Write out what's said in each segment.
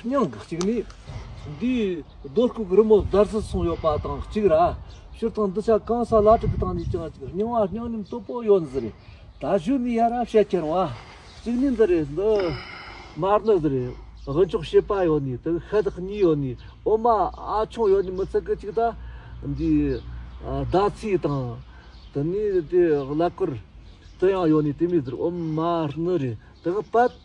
སྙིང་གཅིག་ནི། འདིའི་རྡོ་བརྐོས་རི་མོ་འདར་སིལ་སོང་ཡོད་པ་དང་གཅིག་ར་ཕྱིར་དང་འདུ་བྱ་གང་ས་ལ་གྲུབ་པའི་སྟེང་ནས་ཀྱང་གཅིག་སྙིང་བ་སྙིང་རིམ་སྟུག་པོ་ཡོད་འདི་རེད། ད་གཞོན་ནུའི་ཡ་རབས་བཤད་ཁྱེར་བ་གཅིག་ནི་འདི་རེད་འདི། མར་ནི་འདི་རེད། དབུལ་འཇོག་བྱེད་པ་ཡོད་ནི་དེ་ཤ་སྟག་གཉིས་ཡོད་ནི་འོ་མ་ཨ་ཆུང་ཡོད་ནི་མི་ཚེ་གི་གཅིག་ད། འདིའི་ཟླ་ཚེས་དང། དེ་ནས་དེ་གླ་ཀོར། དེ་ཡང་ཡོད་ནི་དེ་མི་འདི་རེད་འོ་མར་ནི་རེད་དེ་གི་པད།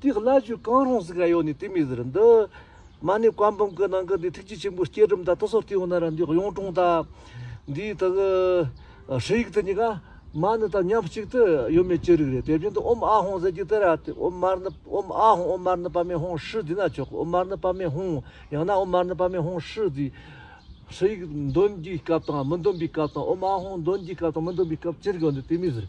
དེའི་བླ་བརྒྱུད་གང་རུང་ཟིག་ར་ཡོད་ནས་དེ་མི་ཟེར་འདི། མ་ནི་བཀའ་འབུམ་གི་ནང་གི་འདི་ཐུགས་རྗེ་ཆེན་པོའི་སྐྱེས་སྒྲོམ་དང་ཏི་སོ་ལྟེ་བ་ན་ར་འདི་གཡུང་དྲུང་དང། འདིའི་དག། ཧྲི་ཡིག་དེ་གཉིས་ཀ། མ་ནི་དང་མཉམ་གཅིག་ཏུ་ཡོད་མེད་ཅི་རིགས་རེད་དེ་བཞིན་དུ་ཨོམ་ཨ་ཧོང་ཟེར་གྱི་དེ་ར་དེ་ཨོམ་མར་ནི་ཨོམ་ཨ་ཧོང་ཨོམ་མར་ནི་པདྨའི་ཧོང་ཧྲི་འདི་ན་ཆོག་གི་ཨོམ་མར་ནི་པདྨའི་ཧོང། ཡང་ན་ཨོམ་མར་ནི་པདྨའི་ཧོང་ཧྲི་འདི། ཧྲི་ཡིག་འདོན་རྒྱུའི་སྐབས་དང་མི་འདོན་པའི་སྐབས་དང་ཨོམ་ཨ་ཧོང་འདོན་རྒྱུའི་སྐབས་དང་མི་འདོན་པའི་སྐབས་ཅི་རིགས་ཡོད་འདི་དེ་མི་ཟེར།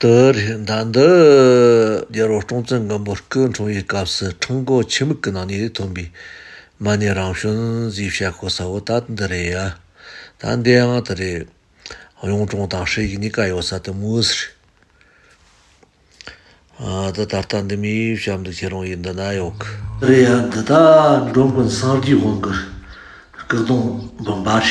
དུ་རེད། ཟླ་འདི་རྒྱལ་རོང་ཀྲོང་ཙེ་མགོན་པོ་སྐུ་འཁྲུངས་པའི་སྐབས་སུ་ཁྲུང་ཀོ་ཆེ་མིག་གི་ནང་ནས་ཐོན་པའི་མ་ཎི་རང་བྱོན་རྩིས་བཤད་ཁོ་ས་བོ་ད་འདི་རེད་ཡ། ད་འདིའང་དེ་རེད། གཡུང་དྲུང་དང་ཧྲེ་གི་གཉིས་ཀ་ཡོད་ས་དེ་མུའུ་སི་རེད། འདི་ད་ལྟ་འདི་མི་ཡིས་བཤད་འདུག་ཁྱེད་རང་ཡིས་འདི་ན་ཡོད་གི། རེད་ཡ་འདི་ད་འགྲོ་མགོན་སངས་རྒྱས་དབང་གི་སྐུ་གདུང་དགོན་པ་རེད།